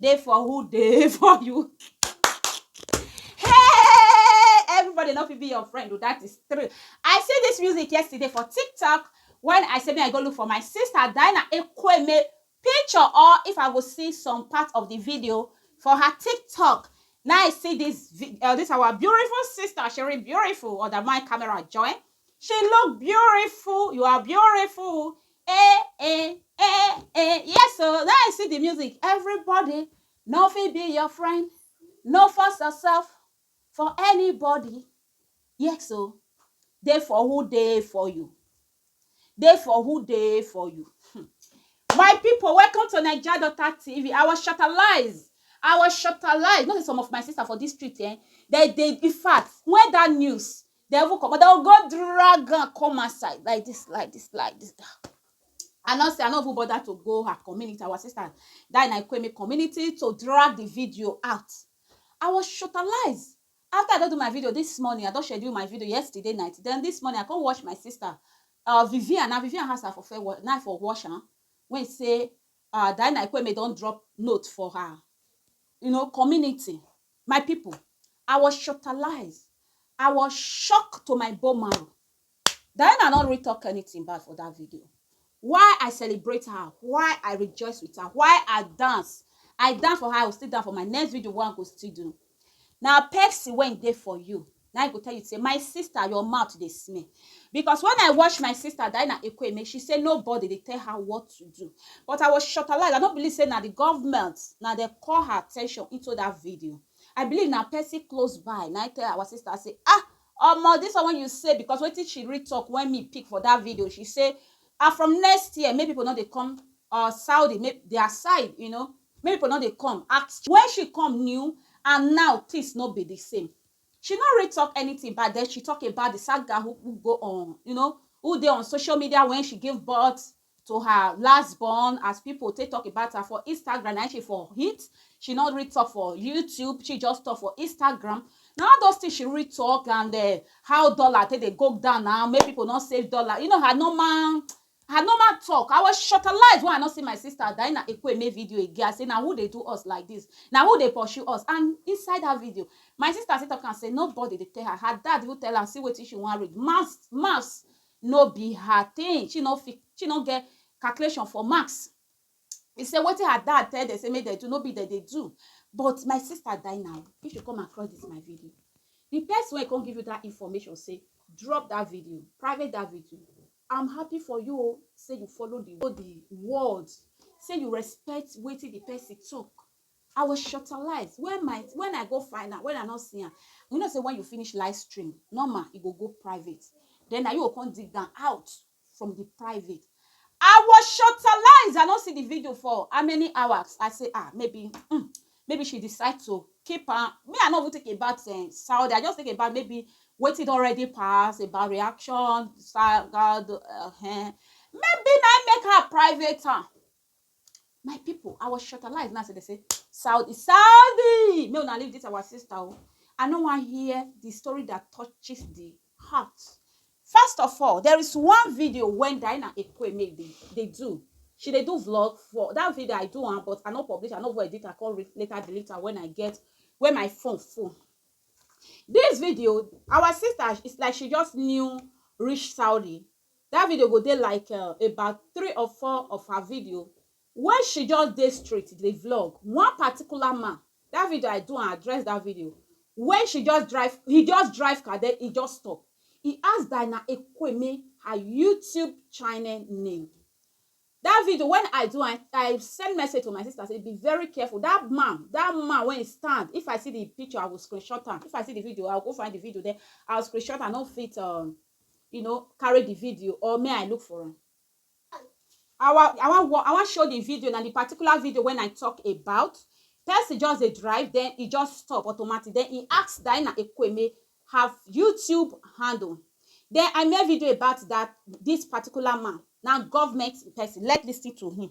dey for who dey for you hey everybody no fit be your friend o that is true i see this music yesterday for tiktok when i say make i go look for my sister dinah ekweme picture or if i go see some part of the video for her tiktok now i see this vi- uh, this our beautiful sister she really beautiful or that my camera join she look beautiful you are beautiful Eh, eh, eh, eh. Yes, so now I see the music. Everybody, no fit be your friend. No force yourself for anybody. Yes, so dey for who dey for you. Dey for who dey for you. Hmm. My people, welcome to Naija Daughter TV. I was shutterlized. I was shutterlized. Not some of my sister for this street, eh? They, they, in fact, when that news, Dem even comot, dem go drag am come outside like dis, like dis, like dis. I no say, I no even bother to go her community, our sister dat na Ekweme community to drag the video out. I was shortalised. After I don do my video dis morning, I don schedule my video yesterday night, then dis morning I come watch my sister um Vivian, na Vivian house I for first watch, na I for watch am wey say um Diana Ekweme don drop note for her you know community My pipo, I was shotalised, I was shocked to my bone marrow. Diana no really talk anything bad for that video. Why I celebrate her, why I rejoice with her, why I dance. I dance for her, I will still dance for my next video wey I go still do. Na Pepsi wey dey for you. na e go tell you say my sister your mouth dey smell because when i watch my sister diana ekweme she say nobody dey tell her what to do but i was shortalized i no believe say na the government na dey call her attention into that video i believe na person close by na e tell our sister say ah omo this one wey you say because wetin she read talk when me pick for that video she say ah from next year make people no dey come uh, saudi make their side you know make people no dey come ask when she come new and now things no be the same She no really talk anything bad then she talk about the sad girl who who go on you know who dey on social media when she give birth to her last born as people take talk about her for Instagram na she for hit she no really talk for YouTube she just talk for Instagram na all those things she really talk and uh, how dollar take dey go down now make people no save dollar you know her normal Her normal talk, I was shortalized when I no see my sister Diana Ekwueme video again, I say na who dey do us like this, na who dey pursue us and inside that video, my sister still talk am say nobody dey tell her, her dad even tell am see wetin she wan read, maths maths no be her thing, she no fit, she no get calculation for maths, e say wetin her dad tell dem say make dem do no be dem dey do, but my sister Diana o, if you come across this my video, the person wey come give you that information say drop that video, private that video, I'm happy for you o say you follow the word. the word say you respect wetin the person talk. I was shortalized when my when I go find am when I no see am you know say when you finish live stream normal e go go private then na you go come dig am out from the private I was shortalized I no see the video for how many hours I say ah maybe mm, maybe she decide to keep am me i no even think about um Saudi i just think about maybe wetin don already pass about reaction sad god uh, eh. maybe na im make her private am my people i was shortalized now so they say saudi saudi make una leave this our sister o i no wan hear the story that touches the Ha! First of all, there is one video when Diana Ekweme dey, dey do. She dey do vlog for that video I do am, but I no publish, I no go edit, I come later delete am when I get when my phone full. This video, our sister, it's like she just new reach Saudi. That video go dey like uh, about three or four of her video Wen she just dey street dey vlog, one particular man, dat video I do and address dat video, wen she just drive, he just drive car den he just stop, he ask Dinah Ekweme her YouTube channel name, dat video wen I do am, I send message to my sister sey be very careful, dat man, dat man wey he stand, if I see di picture I go screenshot am, if I see di video I go go find di video den I go screenshot am, I nor fit, you know, carry di video or make I look for am. I wan I wan I wan show the video na the particular video when I talk about person just dey drive then e just stop automatic then e ask Diana Ekwueme her YouTube handle then I make video about that this particular man na government person let's listen to him.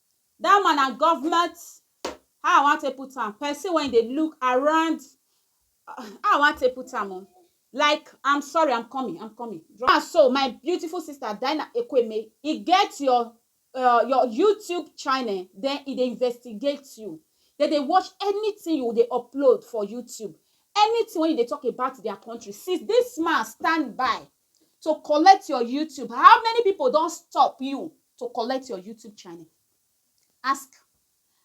That one na government how I wan take put am person wey dey look around how I wan take put am o like am sorry am coming am coming na so my beautiful sister Dinah Ekweme e get your um your YouTube channel then e dey investigate you dem dey watch anything you dey upload for YouTube anything wey you dey talk about their country since this man stand by to collect your YouTube? How many people don stop you to collect your YouTube channel? Ask.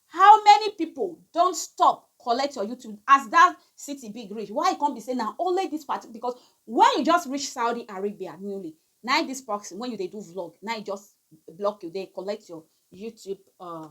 How many people don stop collect your YouTube as that city big reach? Why e come be say na only this party? Because when you just reach Saudi Arabia newly, na this proxy when you dey do vlog, na e just block you dey collect your YouTube uh,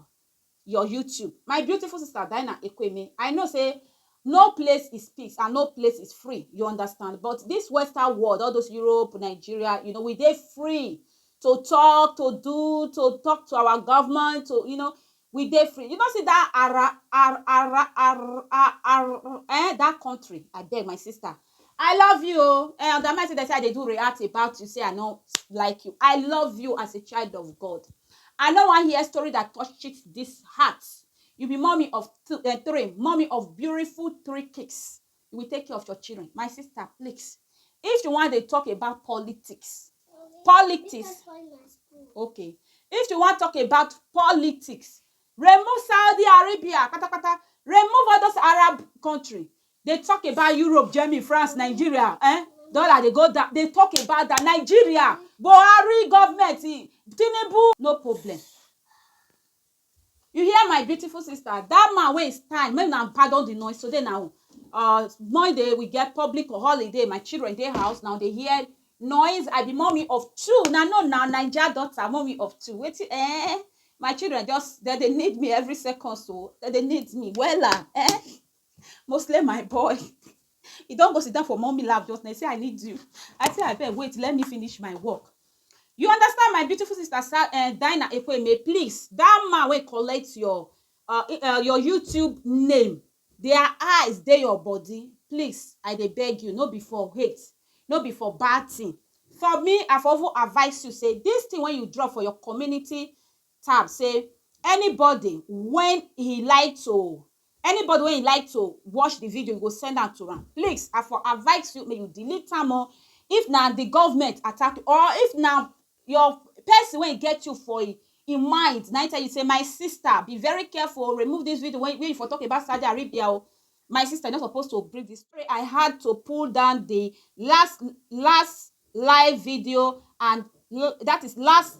your YouTube. My beautiful sister Dinah Ekweme, I know say no place is peace and no place is free, you understand? But this Western world, all those Europe, Nigeria, you know, we dey free to talk, to do, to talk to our government, to, you know, we dey free. You know, see that ara, ara, ara, ara, ara, eh, that country, I beg my sister, I love you o. Eh, on the mind say they say I dey do react about you, say I no like you. I love you as a child of God. I no wan hear story that touches this heart. You be mommy of th- eh, three, mommy of beautiful three kids. You will take care of your children. My sister, please. If you want to talk about politics, politics, okay. If you want talk about politics, remove Saudi Arabia, kata kata. Remove all those Arab country. Dey talk about Europe, Germany, France, Nigeria eh dollar dey go down dey talk about that Nigeria Buhari government eh Tinubu no problem you hear my beautiful sister that man wey he stand make una pardon the noise today na uh Monday we get public holiday my children dey house na dey hear noise I be mummy of two na no na Naija daughter mummy of two wetin eh my children just dem dey need me every second so dem dey need me wella eh. Mostly my boy. He don go sit down for mommy lap just now. He say, I need you. I say, I beg, wait, let me finish my work. You understand my beautiful sister, uh, eh, Dinah Ekweme, please. That man will collect your uh, uh, your YouTube name. Their eyes, they your body. Please, I they beg you, no before hate, no before bad thing. For me, I for advise you, say, this thing when you draw for your community, tab say anybody wen he like to anybody wen he like to watch the video you go send am to am please i for advice you make you delete am o if na the government attack you or if na your person wen get you for him him mind na him tell you say my sister be very careful o remove this video wen you for talk about Saudi Arabia o my sister you no suppose to bring this story i had to pull down the last last live video and that is last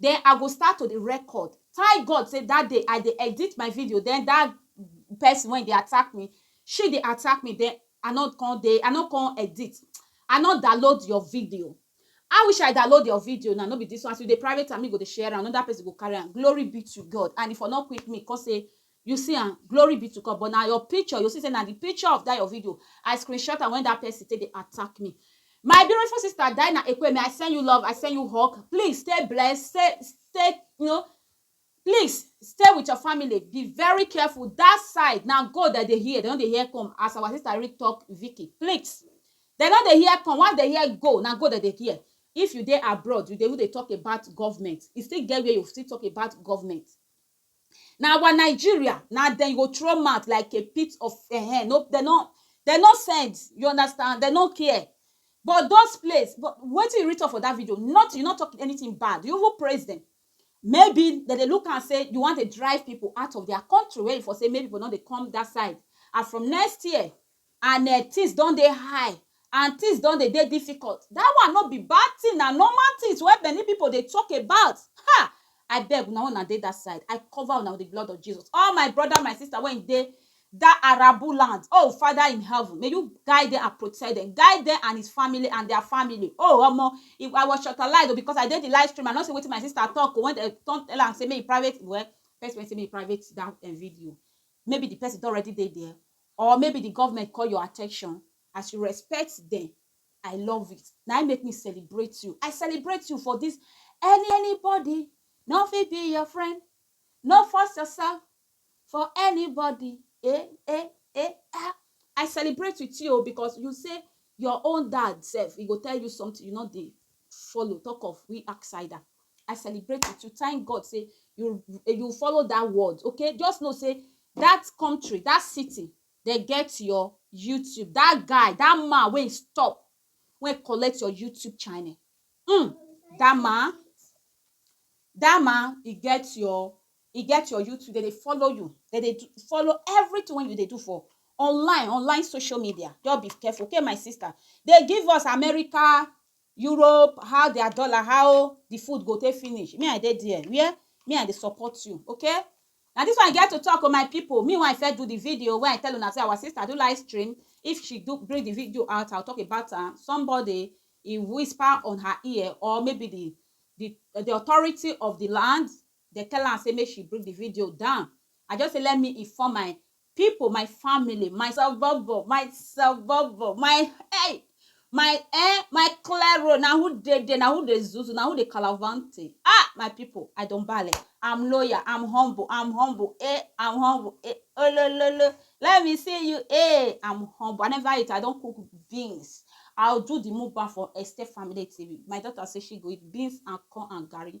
den I go start to dey record tank God say dat day I dey edit my video den dat person wey dey attack me she dey attack me den I no come dey I no come edit I no download your video I wish I download your video now no be dis one as you dey private am me go dey share am anoda person go carry am glory be to God and e for no quick me come say You see am, glory be to God but na your picture, you see say na the picture of that your video I screenshot am when that person take dey attack me. My beautiful sister Dinah Ekwueme, I send you love, I send you hug, please stay blessed, stay, stay, you know, please stay with your family, be very careful, that side na gold dem dey hear, dem no dey hear come as our sister Rick talk Vicky, please, dem no dey hear come, once dem hear go, na go dem dey hear. If you dey abroad, you dey even dey talk about government, e still get where you still talk about government, Na our Nigeria na dem you go throw mouth like a pit of ehen no dem no dem no send you understand dem no care but those place but wetin you reach talk for that video nothing you no talk anything bad you even praise dem maybe dem dey look am say you wan dey drive people out of their country wey you for say make people no dey come that side and from next year and um things don dey high and things don dey dey difficult that one no be bad thing na normal things wey many people dey talk about ha abeg una wey una dey that side I cover una with the blood of Jesus all my brother my sister wey dey that arable land oh father in heaven may you guide them and protect them guide them and his family and their family oh omo if I was shortalized oh because I dey the live stream I no see wetin my sister talk oh when dem come tell am say make he private well person wey say make he private that um video maybe the person don already dey there Or maybe the government call your attention as you respect dem I love it na im make me celebrate you I celebrate you for this any anybody no fit be your friend no force yourself for anybody eh eh eh ah I celebrate with you o because you say your own dad sef he go tell you something you no dey follow talk of we ask cider i celebrate with you thank god say you you follow that word okay just know say that country that city dem get your youtube that guy that man wey stop wey collect your youtube channel mm, that man that man he get your e get your YouTube, they dey follow you, they dey do, follow everything when you dey do for online, online social media. Just be careful, okay, my sister. They give us America, Europe, how their dollar, how the food go take finish. Me, I dey there. Where? Me, I dey support you, okay? Now this one I get to talk on my people. Me, when I first do the video, when I tell una say our sister do live stream, if she do bring the video out, I'll talk about her. Somebody he whisper on her ear, or maybe the the the authority of the land Dem tell am say make she bring the video down. I just say let me inform my people, my family, my savovo, my savovo, my hey, my eh, my clero, na who dey there, na who dey zuzu, na who dey calavante. Ah, my people, I don bale. I'm loyal, I'm humble, I'm humble, eh, I'm humble, eh, oh, lo, lo, lo. Let me see you, eh, I'm humble. I never eat, I don cook beans. I'll do the mukbang for Esther Family TV. My daughter say she go eat beans and corn and garri.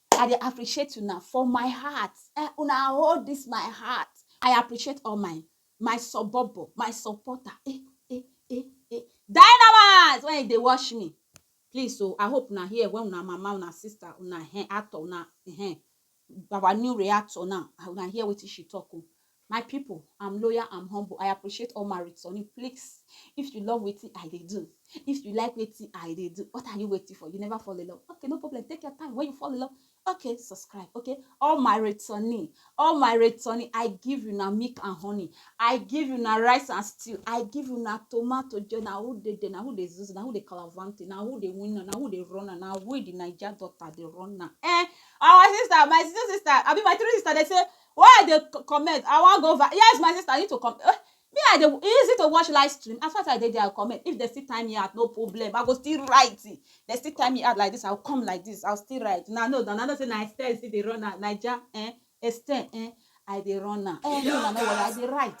I dey appreciate una for my heart eh, una hold this my heart. I appreciate all my my sobobo, my supporter eh eh eh eh. Dynamite when you dey watch me please o, I hope una hear when una mama, una sister, una hen actor, una hen our new reactor now, una hear wetin she talk o. My pipu am loyal am humble I appreciate all my returning please if you love wetin I dey do if you like wetin I dey do what are you waiting for you never fall in love okay no problem take your time when you fall in love okay subscribe okay all my returning all my returning I give you na milk and honey I give you na rice and stew I give you na tomato joy na who dey there na who dey zuzu na who dey calavante na who dey win na who dey run na we the Naija daughter dey run na eh our sister my sister sister abi my three sister dey say Why I dey comment I wan go viral yes my sister you need to com eh me I dey e easy to watch live stream as far as I dey there I go comment if dem still time me out no problem I go still write if dem still time me out like this I go come like this I go still write una know now una know say na style I still dey run am naija eh style eh I dey run am eh make una no worry I dey write.